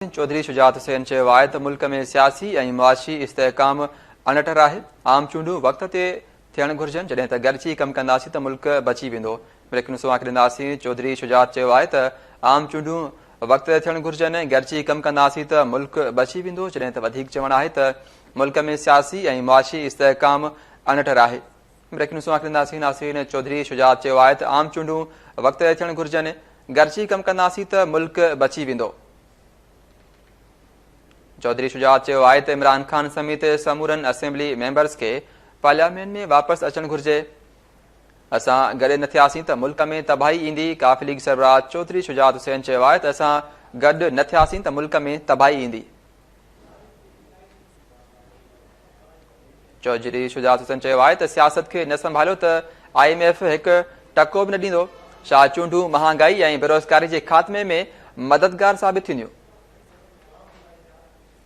الدين چوڌري شجاعت حسين چيو آهي ته ملڪ ۾ سياسي ۽ معاشي استحڪام اڻٽر آهي، عام چونڊون وقت تي ٿيڻ گهرجن، جڏهن ته گڏجي ڪم ڪنداسين ته ملڪ بچي ويندو، بريڪنيوز اوهان کي ڏينداسين چوڌري شجاعت چيو آهي ته عام چونڊون وقت تي ٿيڻ گهرجن، گڏجي ڪم ڪنداسين ته ملڪ بچي ويندو، جڏهن ته وڌيڪ چوڻ آهي ته ملڪ ۾ سياسي ۽ معاشي استحڪام اڻٽر آهي. بريڪنگ نيوز سان آخر انداسين ناصرين چوڌري شجاعت چيو آهي ته عام چونڊون وقت تي ٿيڻ گهرجن گڏجي ڪم ڪنداسين ته ملڪ بچي ويندو چوڌري شجاعت چيو آهي ته عمران خان سميت سمورن اسيمبلي ميمبرز کي پارليامينٽ ۾ واپس اچڻ گهرجي اسان گڏ نه ٿياسين ته ملڪ ۾ تباهي ايندي ڪاف ليگ سربراهه چوڌري شجاعت حسين چيو آهي ته اسان گڏ نه ٿياسين ته ملڪ ۾ تباهي ايندي چوڌري شجاعت حسن چيو آهي ته سياست کي نه سنڀاليو ته آء ايم ايف هڪ ٽڪو به نه ڏيندو ڇا چونڊون مهانگائي ۽ بيروزگاري جي خاتمي ۾ مددگار ثابت ٿينديون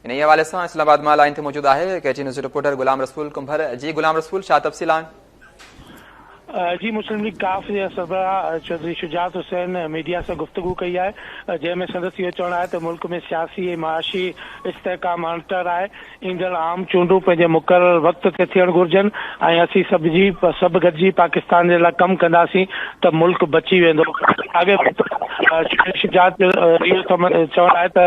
انهي حوالي سان اسلام آباد مان لائن تي موجود آهي ڪيٽي نيوز رپورٽر غلام رسول ڪنڀر جي غلام رسول ڇا تفصيل آهن جي مسلم ليگ ڪاف جي سربراهه چوڌري شجاعت حسين ميڊيا سان گفتگو ڪئي آهي جنهن ۾ سندس اهو چوڻ آهي ته ملڪ ۾ سياسي ۽ معاشي استحڪام اڻٽر آهي ايندڙ عام چونڊون پنهنجي مقرر وقت تي ٿيڻ گهرجن ۽ اسين سڀ جي سڀ گڏجي پاڪستان جي لاء ڪم ڪنداسين ته ملڪ بچي ويندو اڳي شجاعت جو اهو چوڻ آهي ته